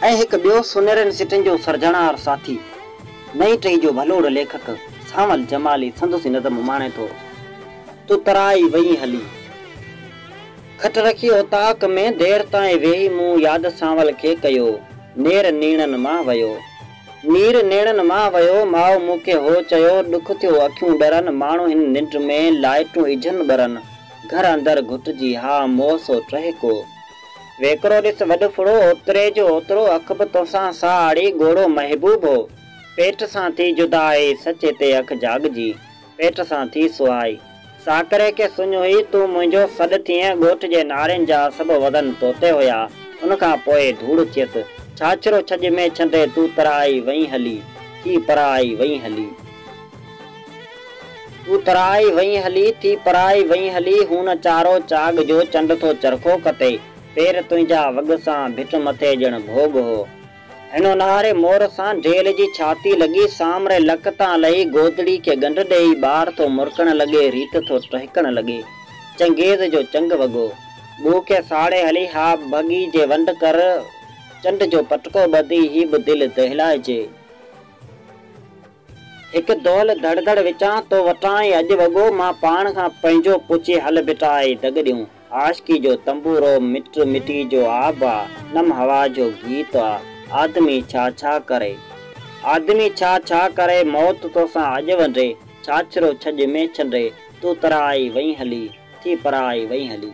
۽ هڪ ٻيو سونهرين سٽن جو سرجڻهار ساٿي، نئين ٽهي جو ڀلوڙ ليکڪ سانول جمالي سندس ئي نظم اماڻي ٿو، تون ترائي وئين هلي. کٽ رکي اوطاق ۾ دير تائين ويهي مون ياد سانول کي ڪيو، نير نيڻن مان ويو. مير نيڻن مان ويو، ماء مون کي هو چيو، ڏک ٿيو اکيون ڏرن، ماڻهو هن ننڊ ۾، لائٽون اجهن ٻرن، گهر اندر گهٽجي، ها موسو ٽهڪو. ويڪرو ڏس وڏ ڦڙو، اوتري جو اوترو، اک به توسان ساهه آڙي، ڳوڙهو محبوب هو، پيٽ سان ٿي جدا اي، سچ هتي اک جاڳجي. پيٽ سان ٿي سوئائي. ساڪري کي سڃ هئي، تون منهنجو سڏ ٿئين، ڳوٺ جي نارين جا سڀ وزن توتي هيا، ان کان پوء ڌوڙ ٿيس، ڇاڇرو ڇڄ ۾ ڇنڊي تون ترائي وئين هلي، ٿي پرائي وئين هلي. تون ترائي وئين هلي، ٿي پرائي وئين هلي، هون چارو چاڳ جو چنڊ ٿو چرخو ڪتي، پير تنهنجا وڳ سان ڀٽ مٿي ڄڻ ڀوڳ هو. هن اونهاري مور سان ڍيل جي ڇاتي لڳي، سامري لڪ تان لهي گودڙي کي ڳنڍ ڏيئي ٻار ٿو مرڪڻ لڳي، ريت ٿو ٽهڪڻ لڳي. چنگيز جو چنگ وڳو. ٻوء کي ساڙي هلي ها ڀڳي جي ونڊ ڪر، چنڊ جو پٽڪو ٻڌي هي به دل دهلائجي. هڪ دؤل ڌڙ ڌڙ وچان تو وٽان ئي اڄ وڳو مان پاڻ کان پنهنجو پڇي هل بيٽا اي دڳ ڏيون عاشقي جو تنبورو مٽ مٽي جو آب آ نم هوا جو گيت آ آدمي ڇا ڇا ڪري آدمي ڇا ڇا ڪري موت توسان اڄ ونڊي ڇاڇرو ڇڄ ۾ ڇنڊي تون ترائي وئين هلي ٿي پرائي وئين هلي.